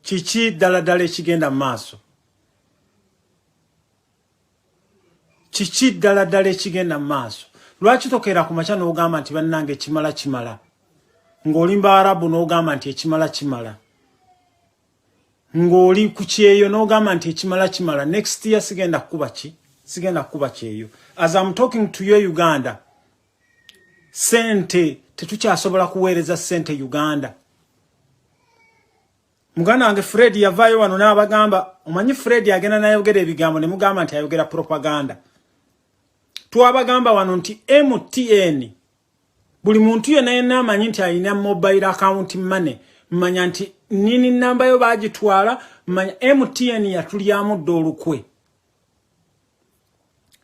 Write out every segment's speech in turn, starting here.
kiki ddala ddala ekigenda mu maaso kiki ddala ddala ekigenda mu maaso lwaki tokeera ku makya n'ogamba nti bannanga ekimala kimala ng'olimba arabu n'ogamba nti ekimala kimala ng'oli ku kyeyo n'ogamba nti ekimala kimala next year sigenda kukuba ki sigenda kukuba kyeyo as am talking to you uganda sente tetukyasobola kuweereza sente uganda muganda wange fred yavaayo wano n'abagamba omanyi fred agenda nayogera ebigambo ne mugamba nti ayogera propaganda twabagamba wano nti mtn buli muntu yena yena amanyi nti alina mobile account money manya nti nini namba yo bagitwala manya mtn yatulyamu dda olukwe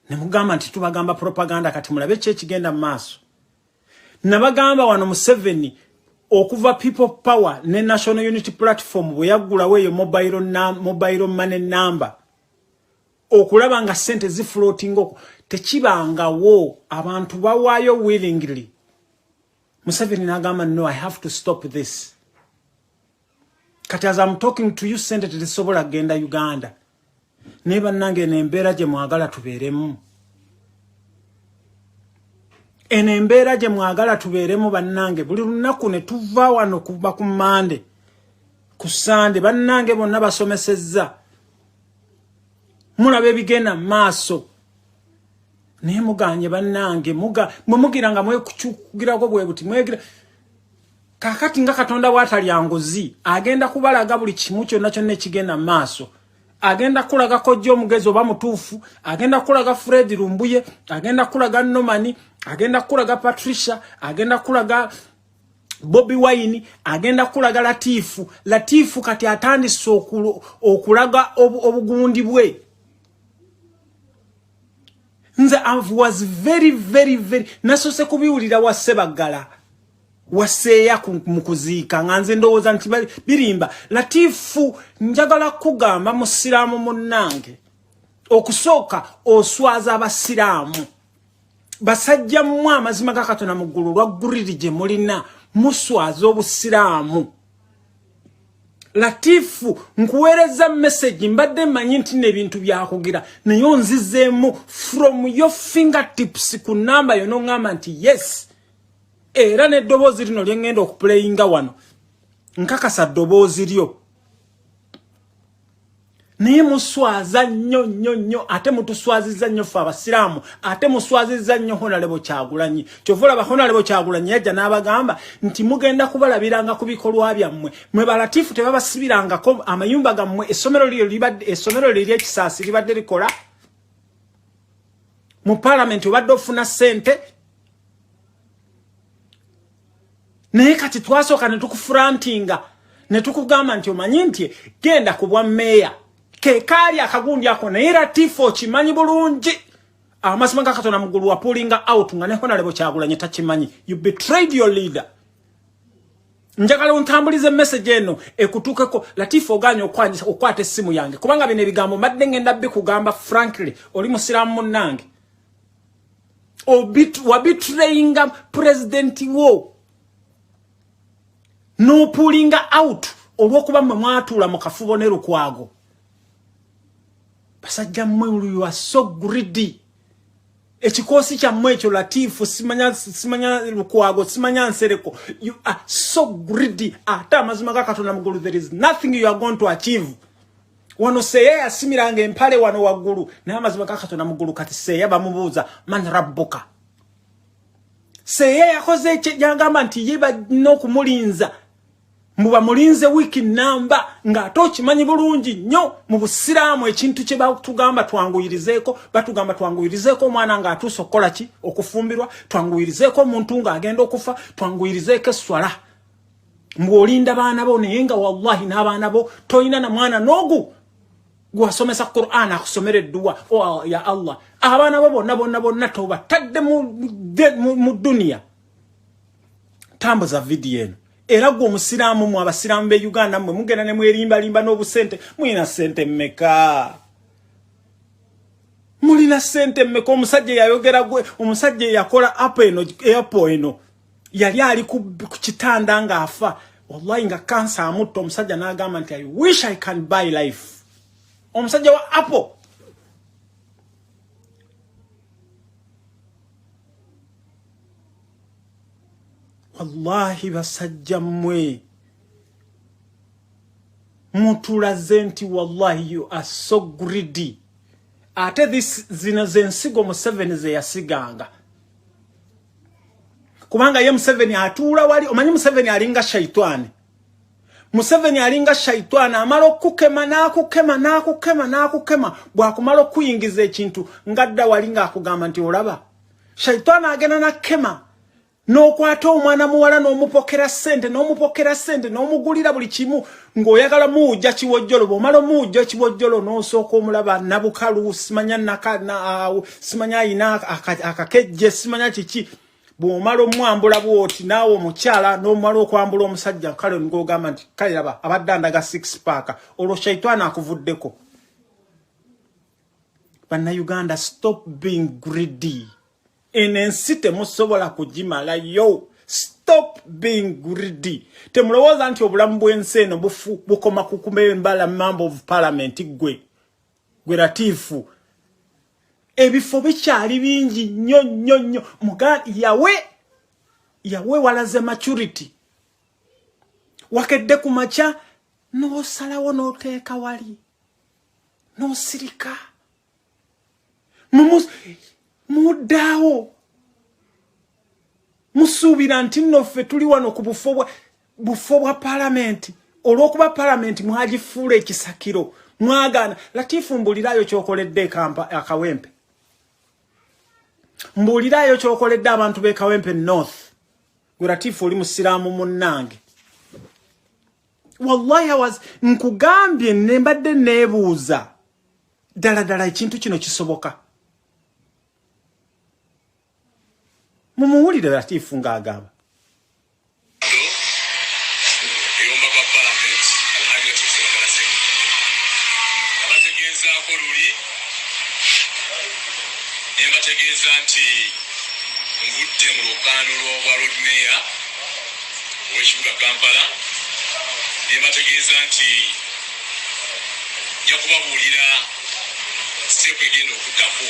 nemugamba nti tubagamba propaganda kati mulabe ki ekigenda mu maaso nabagamba wano museveni okuva people power ne national unity platform bwe yaggulawo eyo mobile money number okulaba nga sente zi floating oko tekibanga wo abantu bawayo willingly museveni nagamba no i have to stop this kati as i'm talking to you sente tezisobola genda uganda naye bannange eno embeera gye mwagala tubeeremu eno embeera gye mwagala tubeeremu bannange buli lunaku ne tuva wano kuba ku mande ku sande bannange bonna basomesezza mulaba ebigenda mu maaso naye muganye bannange mwe mugira nga mwekucukugirako bwe buti mwegira kakati nga katonda watalya nguzi agenda kubalaga buli kimu kyonna kyonna ekigenda mu maaso agenda kulaga kojja omugezi oba mutuufu agenda kulaga fred lumbuye agenda kulaga nomani agenda kulaga patricia agenda kulaga Bobi Wine agenda kulaga Latifu Latifu kati atandise okulaga obugundi bwe nze I was very very very nasose kubiwulira wa Sebaggala waseeya mu kuziika nga nze ndowooza nti birimba latifu njagala kugamba musiraamu munnange okusooka oswaza abasiraamu basajja mmwe amazima ga katonda mu ggulu lwagguliri gye mulina muswaza obusiraamu latifu nkuweereza message mbadde manyi nti nebintu byakugira naye onzizeemu from your fingertips ku namba yo noŋŋamba nti yes era n'eddoboozi lino lyeŋŋenda okupuleyinga wano nkakasa ddoboozi lyo naye muswaza nnyo nnyo nnyo ate mutuswaziza nnyo ffe abasiraamu ate muswaziza nnyo honalebo kyagulanyi kyova olaba honalebo kyagulanyi yajja n'abagamba nti mugenda kubalabiranga ku bikolwa byammwe mwe balatifu tebabasibirangako amayumba gammwe essomero essomero lye lyekisaasi libadde likola mu palamenti obadde ofuna ssente naye kati twasooka ne tukufurantinga ne tukugamba nti omanyi nti genda ku bwa meeya ke kaali akagundi ako naye era tiifu okimanyi bulungi amasima ga katonda mugulu wapulinga out nga ne honalebo kyagulanye takimanyi you betrayed your leader njagala ontambulize message eno ekutukeko latifu oganye okwanyisa okwata essimu yange kubanga bino ebigambo mbadde ngenda bikugamba frankly oli musiramu munnange wabitrayinga pulezidenti wo n'opuulinga out olw'okuba mwe mwatuula mu kafubo ne lukwago basajja mmwe you are so greedy ekikoosi kyammwe ekyo latiifu simanya simanya lukwago simanya nsereko you are so greedy ate amazima ga katonda mugulu there is nothing you are going to achieve wano seya yasimiranga empale wano waggulu naye amazima ga katonda muggulu kati seya bamubuuza man rabbuka seya yakoze kyagamba nti ye balina okumulinza muba mulinze wiiki namba ng'ate okimanyi bulungi nnyo mu busiraamu ekintu kye batugamba twanguyirizeeko batugamba twanguyirizeeko omwana ng'atuuse okukola ki okufumbirwa twanguyirizeeko omuntu ng'agenda okufa twanguyirizeeko esswala mbu olinda baana bo naye nga wallahi n'abaana bo tolina na mwana n'ogu gwasomesa quran akusomera edduwa oh, ya allah abaana bo bonna bonna bonna tobatadde mu duniya tambuza vidiyo eno era gwe omusiraamu mu abasiraamu be uganda mwe mugenda ne mwerimbalimba n'obusente mulina sente mmeka mulina sente mmeka omusajja eyayogera gwe omusajja eyakola apo eno apo eno yali ali ku kitanda nga afa wallahi nga kansa amutta omusajja n'agamba nti i wish i can buy life omusajja wa apple wallahi basajja mmwe mutulaze nti wallahi you are so greedy ate this zino zensigo museveni zeyasiganga kubanga ye Museveni atuula wali omanyi Museveni alinga shaitani Museveni alinga shaitani amala okukema nakukema nakukema nakukema bwakumala okuyingiza ekintu ngadda wali nga akugamba nti olaba shaitani agenda nakema n'okwata omwana muwala n'omupokera sente n'omupokera sente n'omugulira buli kimu ng'oyagala muwujja kiwojjolo bw'omala omuwujja ekiwojjolo n'osooka omulaba nabukalu simanya nakaawo simanya ayina akakejje simanya kiki bw'omala omwambula bwoti naawe omukyala n'omala okwambula omusajja kale ng'ogamba nti kale laba abadde andaga six paaka olwo shaitwana akuvuddeko bannayuganda stop being greedy eno ensi temusobola kugimalayo stop being greedy temulowooza nti obulamu bw'ensi eno bufu bukoma kukuma embala member of parliament gwe gwe latiifu ebifo bikyali bingi nnyo nnyo nnyo muga yawe yawe walaze maturity wakedde ku makya n'osalawo n'oteeka wali n'osirika no muddaawo musuubira nti nno ffe tuli wano ku bufo bwa palamenti olw'okuba palamenti mwagifuula ekisakiro mwagaana latifu mbuuliraayo kyokoledde akawempe mbuuliraayo kyokoledde abantu b'ekawempe north gwe latifu oli musiraamu munnange wallahi was nkugambye nembadde nebuuza ddala ddala ekintu kino kisoboka mumuwulire latiifu ng'agamba nebategeeza nti ngudde mu lukaano lwobwa lodmeya ow'ekibuga kampala nebategeeza nti nja kubabuulira seeku egenda okuddako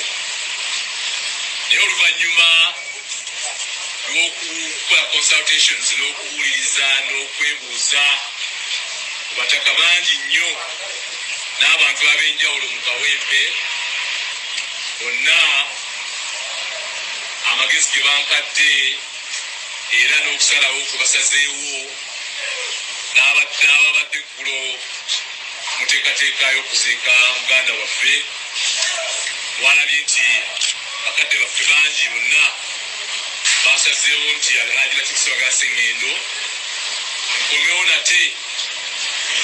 naye oluvannyuma lw'okukola consultations n'okuwuliriza n'okwebuuza ku bataka bangi nnyo n'abantu ab'enjawulo mu kawempe bonna amagezi ge bampadde era n'okusalawo kwe basazeewo n'ababadde Eggulo mu nteekateeka y'okuziika muganda waffe mwalabye nti bakadde baffe bangi bonna baasazeewo nti Alhaji Latif Ssebaggala Ssengendo nkomewo nate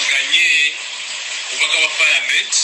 nganye obubaka bwa palamenti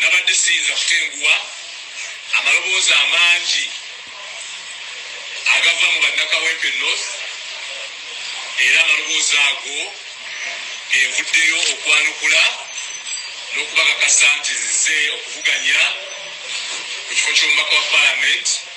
nabadde siyinza kutenguwa amaloboozi amangi agava mu bannakawempe north era amaloboozi ago genvuddeyo okwanukula n'okubakakasa nti nze okuvuganya ku kifo ky'omubaka wa palamenti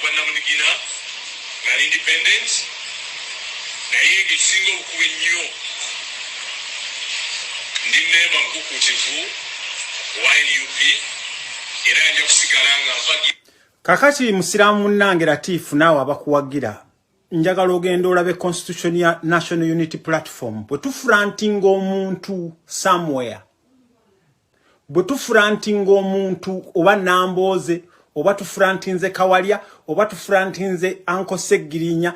Bwannamunigina nali independent naye ng'ekisinga obukulu ennyo ndi mmemba mukukuutivu owa nup era nja kusigala nga mpagi kakati musiraamu munnange latiifu naawe abakuwagira njagala ogenda olabe constitution ya national unity platform bwe tufurantinga omuntu somewhere bwe tufurantinga omuntu oba nambooze oba tufurantinze kawalya oba tufurantinze anko seggirinya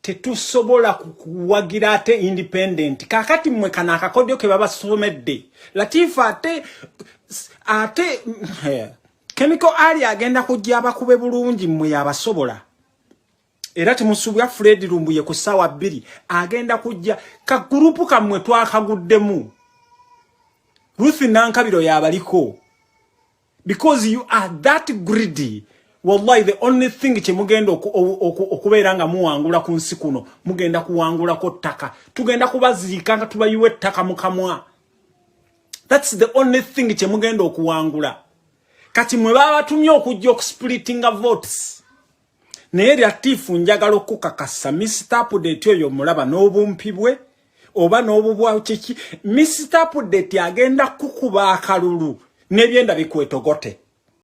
tetusobola kuwagira ate independent kakati mmwe kana akakodyo ke babasomedde latifa ate ate kemiko ali agenda kujja abakube bulungi mmwe yabasobola era temusuubira fred lumbuye ku ssaawa bbiri agenda kujja ka gurupu kammwe twakaguddemu ruth nankabiro yabaliko because you are that greedy wallahi the only thing kyemugenda okubeera nga muwangula ku nsi kuno mugenda kuwangulako ttaka tugenda kubaziika nga tubayiwa ettaka mukamwa thats the only thing kyemugenda okuwangula kati mwe babatumye okujja okusplitinga votes naye lyatiifu njagala okukakasa misita apudeti oyo omulaba n'obumpi bwe oba n'obubwa kiki misita apudeti agenda kukuba akalulu n'ebyenda bikwetogote